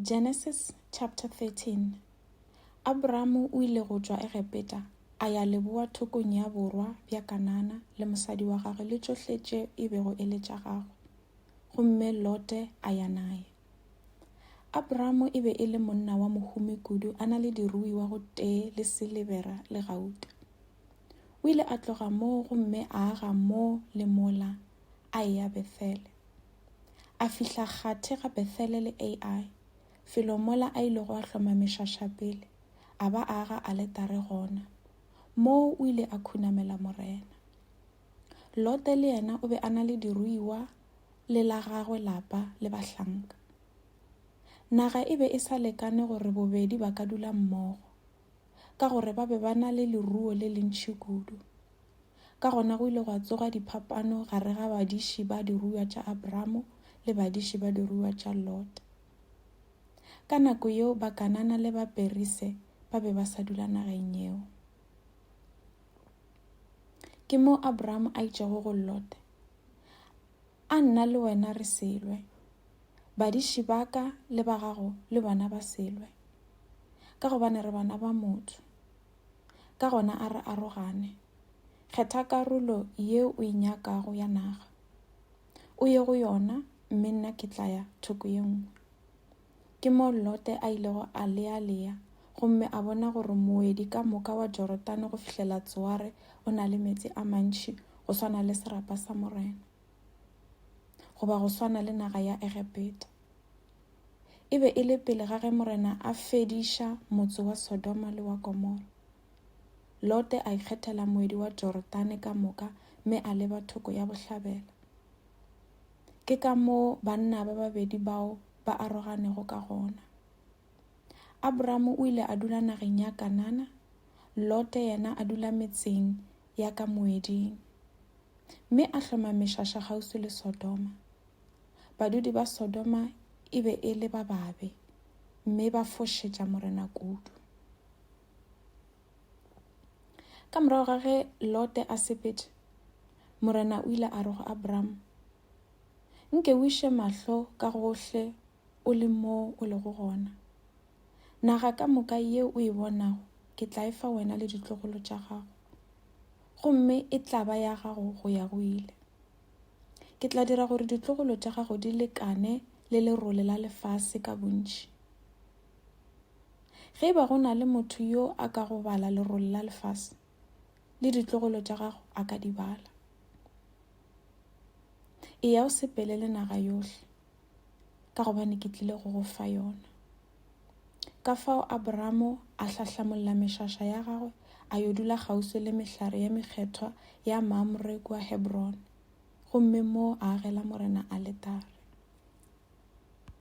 Genesis chapter 13 Abramo o ile go tšwa Egepeta a ya leboa thokong ya borwa bja Kanana le mosadi wa gagwe le tšohle tše e bego e le tša gagwe. Gomme Lote a ya naye. Abramo e be e le monna wa mohumi kudu a na le diruiwa go tee le silebera le gauta. O ile a tloga moo gomme a aga moo le mola a eya Bethele. a fihla kgathe ga Bethele le Ai, felo mola a ilego a hloma mešaša pele, a ba a aga aletare gona. Moo o ile a khunamela Morena. Lote le yena o be a na le diruiwa le la gagwe lapa le bahlanka. Naga e be e sa lekane gore bobedi ba ka dula mmogo. ka gore ba be ba na le leruo le lentši kudu. Ka gona go ile gwa tsoga diphapano gare ga badiši ba diruiwa tša Abramo le badiši ba diruiwa tša Lot. Ka nako yeo Bakanana le Baperise ba be ba sa dula nageng yeo. Ke moo Abramo a itšego go Lot, A nna le wena re se lwe, badiši ba ka le ba gago le bona ba se lwe, ka gobane re bana ba motho. Ka gona a re arogane, kgetha karolo ye o e nyakago ya naga, o ye go yona mme nna ke tla ya thoko ye nngwe. Ke moo Lote a ilego a lealea gomme a bona gore moedi ka moka wa Jorodane go fihlela Tsoare o na le meetse a mantši go swana le serapa sa Morena, goba go swana le naga ya Egepeta. E be e le pele ga ge Morena a fediša motse wa Sodoma le wa Gomora. Lote a ikgethela moedi wa Jorodane ka moka mme a leba thoko ya bohlabela. Ke ka moo banna ba babedi bao ba aroganego ka gona. Abramo o ile a dula nageng ya Kanana, Lote yena a dula metseng ya ka moeding, mme a hloma mešaša kgauswi le Sodoma. Badudi ba Sodoma e be e le ba babe, mme ba fošetša Morena kudu. Ka morago ga ge Lote a sepetše, Morena o ile a re go Abraham, Nke o iše mahlo ka gohle o le mo o lego gona. Naga ka moka ye o e bonago ke tla e fa wena le ditlogolo tša gago, gomme e tla ba ya gago go ya go ile. Ke tla dira gore ditlogolo tša gago di lekane le lerole la lefase ka bontši. Ge e ba go na le motho yo a ka go bala lerole la lefase, le ditlogolo tša gago a ka di bala. E ya o sepele le naga yohle, ka gobane ke tlile go go fa yona. Ka fao Abramo a hlahlamolola mešaša ya gagwe a yo dula kgauswi le mehlare ya mekgethwa ya Mamre kua Hebrone, gomme moo a agela Morena aletare.